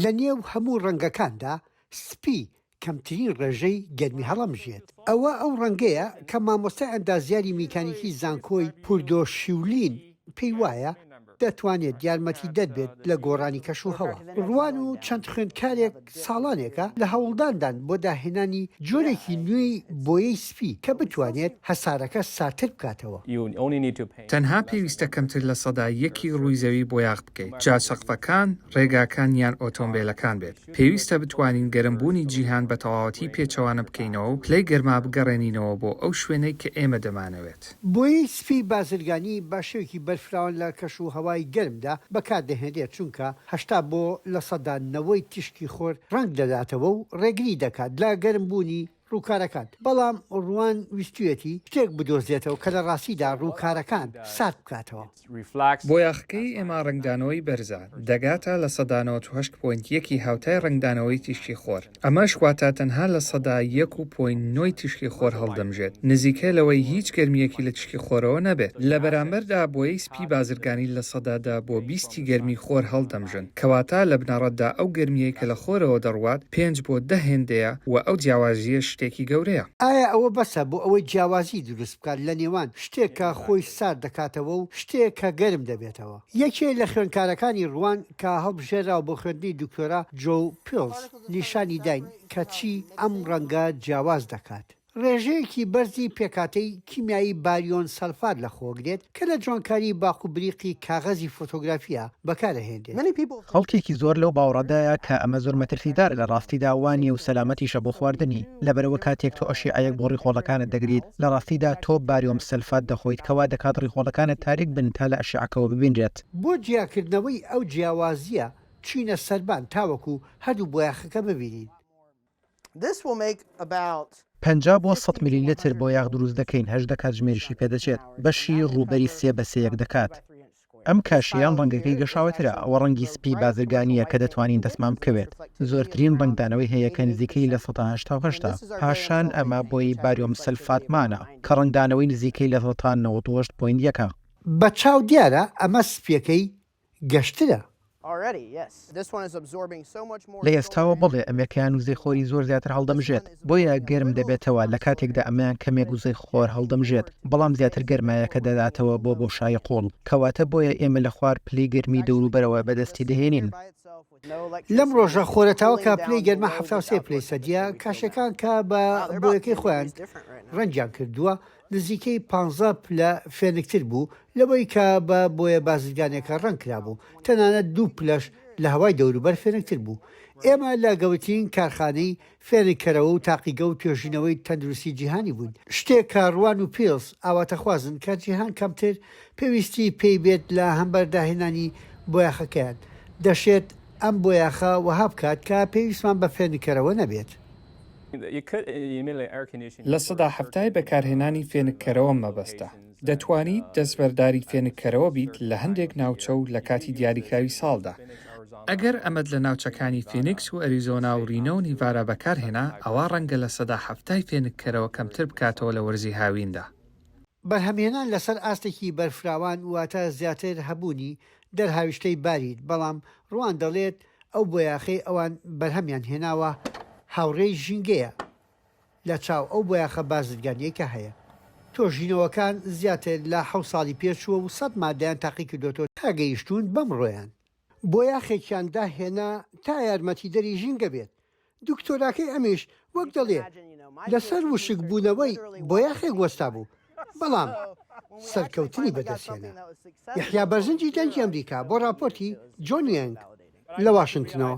لە نێو هەموو ڕەنگەکاندا سپی کەمترین ڕێژەی گەرمی هەڵەمژێت. ئەوە ئەو ڕەنگەیە کە مامۆستای ئەندازیاری میکانیکی زانکۆی پوردۆ شیولین پێی وایە دەتوانێت یارمەتیدەر بێت لە گۆڕانی کەشوهەوا. ڕوان و چەند خوێندکارێک ساڵانێکە لە هەوڵداندان بۆ داهێنانی جۆرێکی نوێی بۆیەی سپی کە بتوانێت هەسارەکە ساردتر بکاتەوە. تەنها پێویستە کەمتر لە سەدا یەکی ڕووی زەوی بۆیاخ بکەیت، جا سەقفەکان، ڕێگاکان یان ئۆتۆمبێلەکان بێت. پێویستە بتوانین گەرمبوونی جیهان بە تەواوەتی پێچەوانە بکەینەوە و پلەی گەرما بگەڕێنینەوە بۆ ئەو شوێنەی کە ئێمە دەمانەوێت. بۆیەی سپی بازرگانی بە شێوەکی بەرفراوان لە کەش و هەوای گەرمدا بەکاردەهێنرێت، چونکە هەشتا بۆ لە سەدا نەوەی تیشکی خۆر ڕەنگ دەداتەوە و ڕێگری دەکات لە گەرمبوونی، ڕووکارەکان، بەڵام ڕوان ویستویەتی شتێک بدۆزێتەوە کە لە ڕاستیدا ڕووکارەکان سارد بکاتەوە. بۆیاخکەی ئێما ڕەنگدانەوەی بەرزە، دەگاتە لە سەدا نەوەد و هەشت پۆینت یەک ی هاوتای ڕەنگدانەوەی تیشکی خۆر، ئەمەش واتە تەنها لە سەدا یەک و پۆینت نۆ ی تیشکی خۆر هەڵدەمژێت، نزیکە لەوەی هیچ گەرمییەکی لە تیشکی خۆرەوە نەبێت. لە بەرامبەردا بۆیەی سپی بازرگانی لە سەدا دە بۆ بیست ی گەرمی خۆر هەڵدەمژن. کەواتە لە بنەڕەتدا ئەو گەرمییەی کە لە خۆرەوە دەڕوات پێنج بۆ دە هێندەیە و ئەو جیاوازییەش شتێکی گەورەیە. ئایا ئەوە بەسە بۆ ئەوەی جیاوازی دروست بکات لە نێوان شتێک کە خۆی سارد دەکاتەوە و شتێک کە گەرم دەبێتەوە؟ یەکێ لە خوێندکارەکانی ڕوان کە هەڵبژێراوە بۆ خوێندنی دکتۆرا، جۆو پیڵز، نیشانی داین کە چی ئەم ڕەنگە جیاواز دەکات. ڕێژەیەکی بەرزی پێکهاتەی کیمیایی باریۆن سەلفات لەخۆگرێت، کە لە جوانکاری باق و بریقی کاغەزی فۆتۆگرافیا بەکارئەهێنرێت. خەڵکێکی زۆر لەو باوەڕەدایە کە ئەمە زۆر مەترسیدارە لە ڕاستیدا وا نیە و سەلامەتیشە بۆ خواردنی، لەبەرئەوە کاتێک تۆ ئەشیعەیەک بۆ ڕیخۆڵەکانت دەگریت لە ڕاستیدا تۆ باریۆم سەلفات دەخۆیت کە وا دەکات ڕیخۆڵەکانت تاریک بن تا لە ئەشیعەکەوە ببینرێت. بۆ جیاکردنەوەی ئەو جیاوازییە بچینە سەربان تاوەکو هەردوو بۆیاخەکە ببینین. پەنجا بۆ سەد ملیلتر بۆیاخ دروست دەکەین، هەژدە کاتژمێریشی پێدەچێت، بەشی ڕووبەری سێ بە سێیەک دەکات. ئەم کاشی یان ڕەنگەکەی گەشاوەترە، ئەوە ڕەنگی سپی بازرگانییە کە دەتوانین دەستمان بکەوێت، زۆرترین ڕەنگدانەوەی هەیە کە نزیکەی لە سەدا هەشتا و هەشتە، پاشان ئەمە بۆی باریۆم سەلفاتمانە کە ڕەنگدانەوەی نزیکەی لە سەدا نەوەد و هەشت پۆینت یەکە. بە چاو دیارە ئەمە سپییەکەی گەشترە. لە ئێستاوە بەڵێ ئەمێکەیان وزەی خۆری زۆر زیاتر هەڵدەمژێت بۆیە گەرم دەبێتەوە لە کاتێکدا ئەمەیان کەمێک وزەی خۆر هەڵدەمژێت بەڵام زیاتر گەرمایەکە دەداتەوە بۆ بۆشایی قوڵ کەواتە بۆیە ئێمە لە خوار پلەی گەرمی دەوروبەرەوە بەدەستی دەهێنین. لەم ڕۆژە خۆرە تاوەکە پلەی گەرما حەفتا و سێ پلەی سەدییە، کاشێکان کە بە بۆیەکەی خۆیان ڕەنگیان کردووە نزیکەی پانزە پلە فێنکتر بوو لەوەی کە بە بۆیە بازرگانیەکە ڕەنگ کرابوو، تەنانەت دوو پلەش لە هەوای دەوروبەر فێنکتر بوو. ئێمە لە گەورترین کارخانەی فێنککەرەوە و تاقیگە و توێژینەوەی تەندروستی جیهانی بووین، شتێک کە ڕوان و پیڵس ئاواتەخوازن کە جیهان کەمتر پێویستی پێی بێت لە هەمبەر داهێنانی بۆیاخەکەیان، دەشێت ئەم بۆیاخە وەها بکات کە پێویستمان بە فێنککەرەوە نەبێت. لە سەدا حەفتای بەکارهێنانی فێنککەرەوە مەبەستە. دەتوانیت دەستبەرداری فێنککەرەوە بیت لە هەندێک ناوچە و لە کاتی دیاریکراوی ساڵدا. ئەگەر ئەمەت لە ناوچەکانی فینیکس و ئەریزۆنا و رینۆ و نیڤارا بەکارهێنا، ئەوا رەنگە لە سەدا حەفتای فێنککەرەوە کەمتر بکاتەوە لە وەرزی هاویندا. بەرهەمهێنان لەسەر ئاستێکی بەرفراوان واتە زیاتر هەبوونی دەرهاویشتەی باریت، بەڵام ڕوان دەڵێت ئەو بۆیاخەی ئەوان بەرهەمیان هێناوە هاوڕێی ژینگەیە، لە چاو ئەو بۆیاخە بازرگانیەی کە هەیە تۆژینەوەکان زیاتر لە حەوت ساڵی پێچووە و سەد مادەیان تاقیکردۆتەوە تا گەیشتوون بەمڕۆیان، بۆیاخێکیان داهێنا تا یارمەتیدەری ژینگە بێت، دکتۆراکەی ئەمیش وەک دەڵێ لەسەر وشک بوونەوەی بۆیاخێک وەستا بوو بەڵام سەرکەوتنی بەدەستهێنا. یەحیا بەرزنجی دەنگی ئەمریکا بۆ ڕاپۆرتی جۆن یەنگ لە واشنتنەوە.